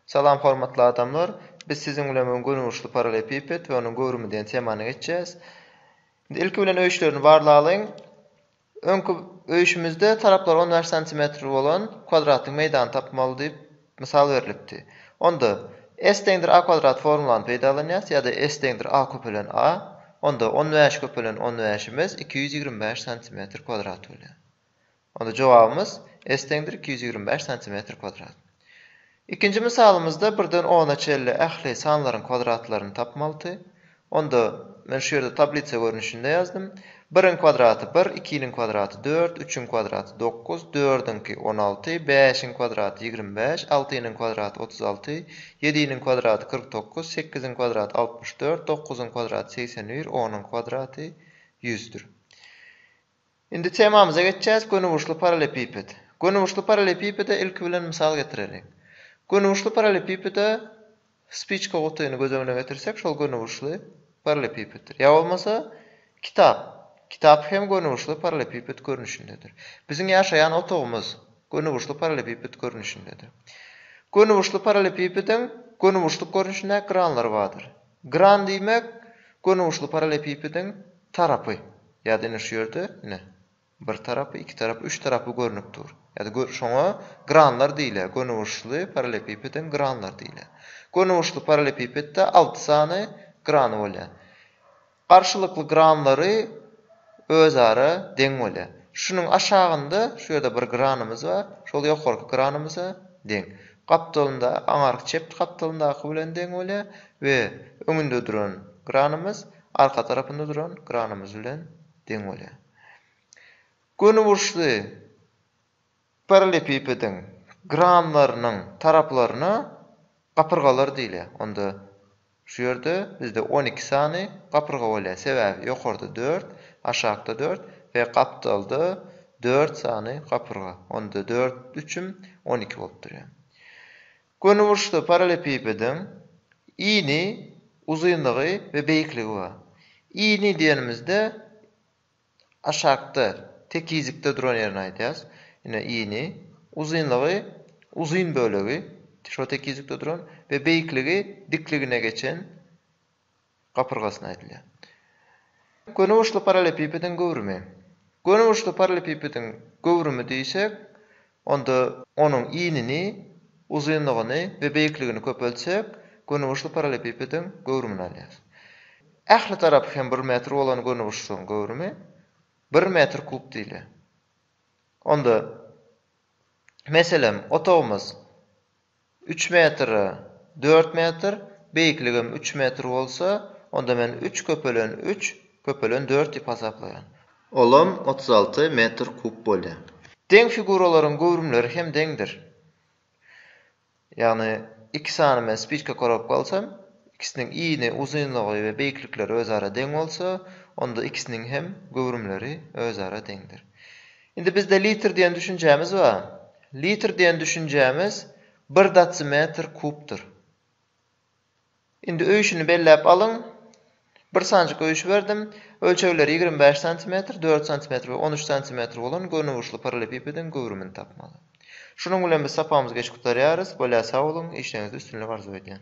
Salam hormatly adamlar! Biz siziň bilen bu gün göniurçly parallelepiped we onuň göwrümi diýen temany geçýäs. Indi ilki bilen öýüşlerini barlalyň. Öňki öýüşimizde taraplary on bäş santimetr bolan kwadratlyk meýdany tapmaly diýip mysal berlipdi. Onda S deňdir A kwadrat formulany peýdalanýas ýa-da S deňdir A köpelen A. Onda on bäş köpelen on bäşimiz iki ýüz ýigrimi bäş santimetr kwadrat bolýar. Onda jogabymyz S deňdir iki ýüz ýigrimi bäş santimetr kwadrat. Ikinji mysalymyzda birden ona çenli ähli sanlaryň kwadratlaryny tapmalydy. Onda men şu ýerde tablisa görnüşinde ýazdym. Biriň kwadraty bir, ikiniň kwadraty dört, üçüň kwadraty dokuz, dördüňki on alty, bäşiň kwadraty ýigrimi bäş, altynyň kwadraty otuz alty, ýediniň kwadraty kyrk dokuz, sekiziň kwadraty altmyş dört, dokuzyň kwadraty segsen bir, onuň kwadraty ýüzdür. Indi temamyza geçýäs, gönüburçly parallepiped. Gönüburçly parallepipede ilki bilen mysal getireliň. Gönüburçly parallepipede spiçka gutyny göz öňüne getirsek, şol gönüburçly parallepipeddir. Ýa bolmasa, kitap. Kitap hem gönüburçly parallepiped görnüşindedir. Biziň ýaşaýan otagymyz gönüburçly parallepiped görnüşindedir. Gönüburçly parallepipediň gönüburçluk görnüşindäki granlary bardyr. Gran diýmek, gönüburçly parallepipediň tarapy. Ýa-da ine şu ýerde, ine, bir tarapy, iki tarapy, üç tarapy görnüp dur. Ýa-da şoňa granlar diýilýär. Gönüburçly parallelepipedem granlar diýilýär. Gönüburçly parallelepipedde alty sany grany bolýar. Garşylykly granlary özara deň bolýar. Şunuň aşagynda şu ýerde bir granymyz bar, şol ýokarky granymyza deň. Gapdalynda, aňarky çep gapdalyndaky bilen deň bolýar we öňünde duran granymyz Arka tarapynda duran kranymyz bilen deň bolýar. Gönüburçly parallepipediň kranlarynyň taraplaryna gapyrgalar diýilýär. Onda şu ýerde bizde on iki sany gapyrga bolýar. Sebäbi ýokarda dört, aşakda dört we gapdalda dört sany gapyrga. Onda dört üçüm on iki bolup durýar. Gönüburçda parallelepipediň ini, uzynlygy we beýikligi bar. Ini diýenimizde aşakda, tekizlikde duran ýerini aýdýarys. Ine, ini. Uzynlygy, uzyn bölegi, şo tekizlikde duran we beýikligi, dikligine geçen gapyrgasyna aýdylýar. Gönüburçly parallepipediň göwrümi. Gönüburçly parallepipediň göwrümi diýsek, onda onuň inini, uzynlygyny we beýikligini köpeltsek, gönüburçly parallepipediň göwrümini alýarys. Ähli tarapy hem bir metr bolan gönüburçlygyň göwrümi bir metr kub diýilýär. Onda, meselem, otagymyz Üç metr, dört metr, beýikligim üç metr bolsa, onda men üç köpelen üç, köpelen dört diýip hasaplaýan. Olam otuz alty metr kub bolýar. Deň figuralaryň göwrümleri hem deňdir. Ýagny iki sany men spiçka korobka alsam, ikisiniň yny, uzynlygy we beýiklikleri özara deň bolsa, onda ikisiniň hem göwrümleri özara deňdir. Indi bizde litr diýen düşünjämiz bar. Litr diýen düşünjämiz bir datsimetr kubdyr. Indi öýşüni belläp alyň. Bir sanjyk öýşi berdim. Ölçegleri ýigrimi bäş santimetr, dört santimetr we on üç santimetr bolan gönüburçly parallepipediň göwrümini tapmaly. Şunuň bilen biz sapagymyzy geç gutarýarys. Bolýa sag boluň, işleriňizde üstünlik arzuw edýän.